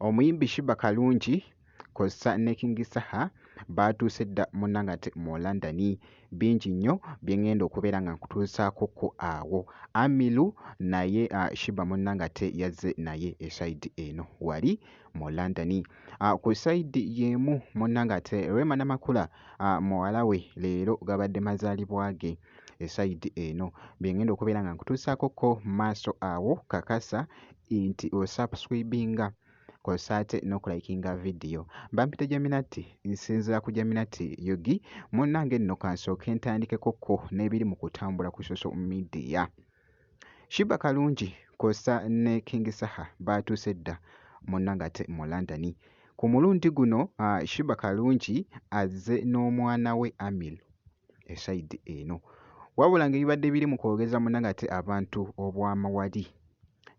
omuyimbi shiba kalungi kozesa ne king saha baatuuse dda munangate mu london bingi nnyo bye ŋŋenda okubeera nga nkutuusaako ku awo amilu naye shiba munangate yazze naye esayidi eno wali mu london Ah, ku sayidi y'emu munna ng'ate Rema Namakula ah, muwala we leero gabadde mazaalibwa ge esayidi eno bye ngenda okubeera nga nkutuusaako ko maaso awo kakasa nti osubscribinga kosa ate n'okulayikinga vidiyo bampita jaminati nsinzira ku jaminati yogi munnange nno kansooke ntandikeko ko n'ebiri mu kutambula ku social media Sheebah Kalungi kwossa ne King Saha baatuuse dda mu Nagate mu London. Ku mulundi guno Sheebah Kalungi azze n'omwana we Amir e sayidi eno. Wabula ng'ebibadde biri mu kwogeza mu Nagate abantu obwama wali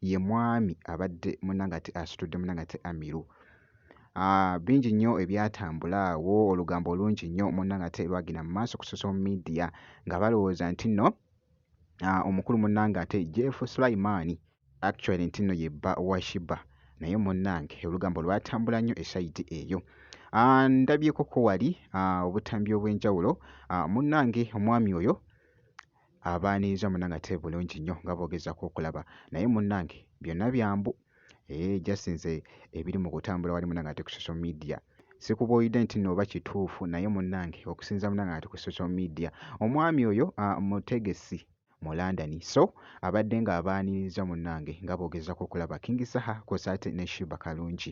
ye mwami abadde mu Nagate asitudde mu Nagate Amiru. Ah, bingi nnyo ebyatambula awo olugambo olungi nnyo munnangate lwagenda mu maaso ku social media nga balowooza nti nno ah, omukulu munnange ate Jeff Sulaiman actually nti nno ye bba wa Shiba naye munnange olugambo lwatambula nnyo esayidi eyo ah, ndabyeko ko wali ah, obutambi obw'enjawulo ah, munnange omwami oyo abaaniriza munnange ate bulungi nnyo nga boogezako okulaba naye munnange byonna byambu Eeh just nze ebiri mu kutambula wali munange ate ku social media sikubuulidde nti nno oba kituufu naye munnange okusinza munnange ati ku social media omwami oyo ah, mutegesi mu London so abadde ng'abaaniriza munnange nga boogezako okulaba King Saha kwosaate ne Shiba Kalungi.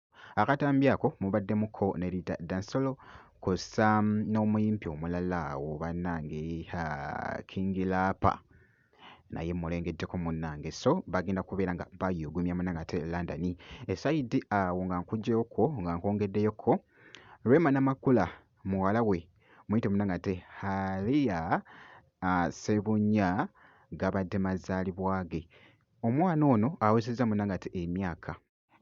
Akatambi ako mubaddemu ko ne Rita Dansolo kw'ossa n'omuyimpi omulala awo bannange haa King Laapa naye mmulengeddeko munnange so bagenda kubeera nga bayuugumya munnange ate London esayidi awo nga nkuggyeyo kwo nga nkwongeddeyo ko Rema Namakula muwala we muyite munnange ate Halia uh, Sebunya gabadde mazaalibwa ge omwana ono awezezza munnange ate emyaka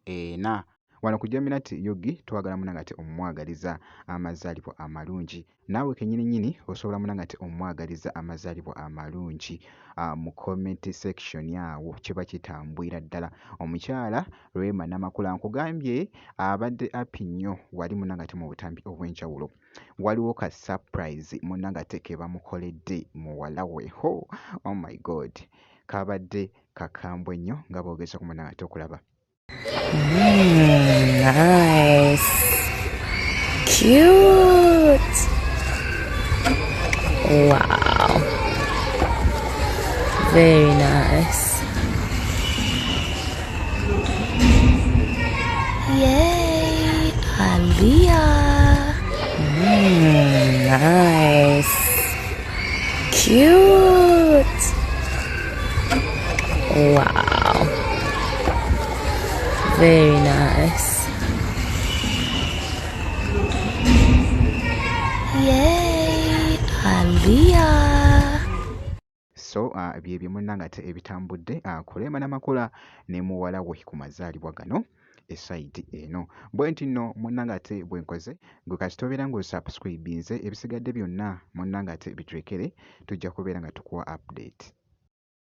ena. Wano ku Jaminat Yogi twagala munange ate omwagaliza amazaalibwa amalungi. Naawe kennyini nnyini osobola munange ate omwagaliza amazaalibwa amalungi ah, mu comment section awo kiba kitambwira ddala. Omukyala Rema Namakula nkugambye abadde api nnyo wali munange ate mu butambi obw'enjawulo. Waliwo ka surprise munange ate ke bamukoledde muwala we. Ho, oh my God! Kabadde Kakambwe nnyo nga boogeza ku munange ate okulaba. Mm, nice. Cute. Wow. Very nice. Yay, Aliyah. Mm, nice. Cute. Wow. Very nice. Yay, Aliyah. so uh, bye bye munnangate ebitambudde uh, kulema namakula ne muwala we ku mazaalibwa gano esayidi eno bwenti nno munnange ate bwe nkoze gwe kasita obeera ng'osubscribinze ebisigadde byonna munnange ate bitulekere tujja kubeera nga tukuwa update.